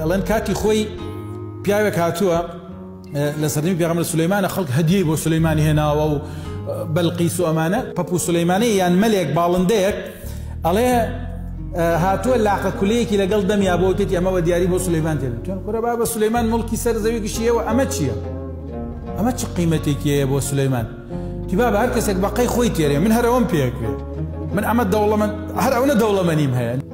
ئەڵێن کاتی خۆی پیاوێک هاتووە لە سەردەمی پێغەمبەر سولەیمانە خەڵک هەدیەی بۆ سولەیمان هێناوە و بەلقیس و ئەمانە پەپو سولەیمانەی یان مەلێک باڵندەیەک ئەڵێ هاتووە لاقە کولەیەکی لەگەڵ دەمیا بۆ تێتی ئەمەوە دیاری بۆ سولەیمان تێن تۆن کورە با بە سولەیمان مڵکی سەر زەوی گشتیەوە ئەمە چییە؟ ئەمە چ قیمەتێکیەیە بۆ سولەیمان تیبا بە هەر کەسێک بەقەی خۆی تێرێ من هەرەوەم پێکرێت من ئەمە دەوڵەمەند هەر ئەوە دەوڵەمەنیم هەیە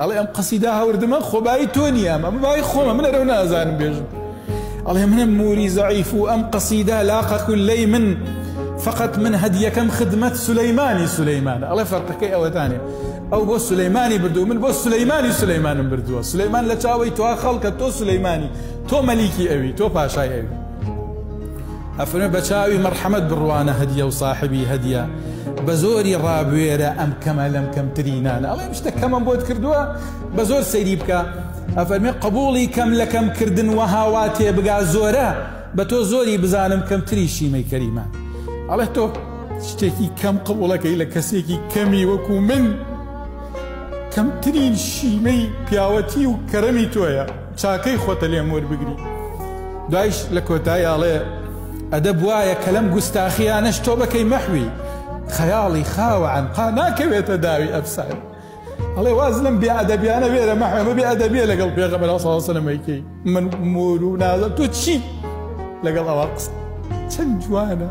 ئەڵێ ئەم قەسیدە هاوردمە خۆ بایی تۆ نییە ئەمە بایی خۆمە من ئەرەو نازانم بێژم ئەڵێ منم موری زەعیف و ئەم قەسیدە لاقە کولەی من فقط من هەدیەکەم خدمەت سولەیمانی سولەیمان ئەڵێ فەرقەکەی ئەوەتانێ ئەو بۆ سولەیمانی بردو من بۆ سولەیمانی سولەیمانم بردووە سولەیمان لە چاوەی توا خەڵکە تۆ سولەیمانی تۆ مەلیکی ئەوی تۆ پاشای ئەوی ئەفەرمێ بەچاوی مەرحەمەت بڕوانە هەدیە و ساحبی هەدیە بەزۆری ڕابوێرە ئەم کەمە لەم کەمترینانە ئەڵێ شتە کەمەم بۆت کردووە بە زۆر سەیری بکە ئەفەرمێ قبوڵی کەم لە کەم کردن وەهاوا تێبگا زۆرە بە تۆ زۆری بزانم کەمتری شیمەی کەریمە ئەڵێ تۆ شتێکی کەم قبوڵەکەی لە کەسێکی کەمی وەکو من کەمترین شیمەی پیاوەتی و کەرەمی تۆیە چاکەی خۆتە لێم وەربگری. دوایش لە کۆتایی ئەڵێ، ئەدەب وایە کە لەم گوستاخییانەش تۆ بەکەی مەحوی خەیاڵی خاوە عەنقا ناکەوێتە داوی ئەفسانە. ئەڵێ، واز لەم بێ ئەدەبیانە بێرە مەحوێ، ئەمە بێ ئەدەبییە لەگەڵ پێغەمبەر عەلەیهس سڵاوو سەلام ئەیکەی، من مۆر و نازم تۆ چیت لەگەڵ ئەوا قسە چەند جوانە.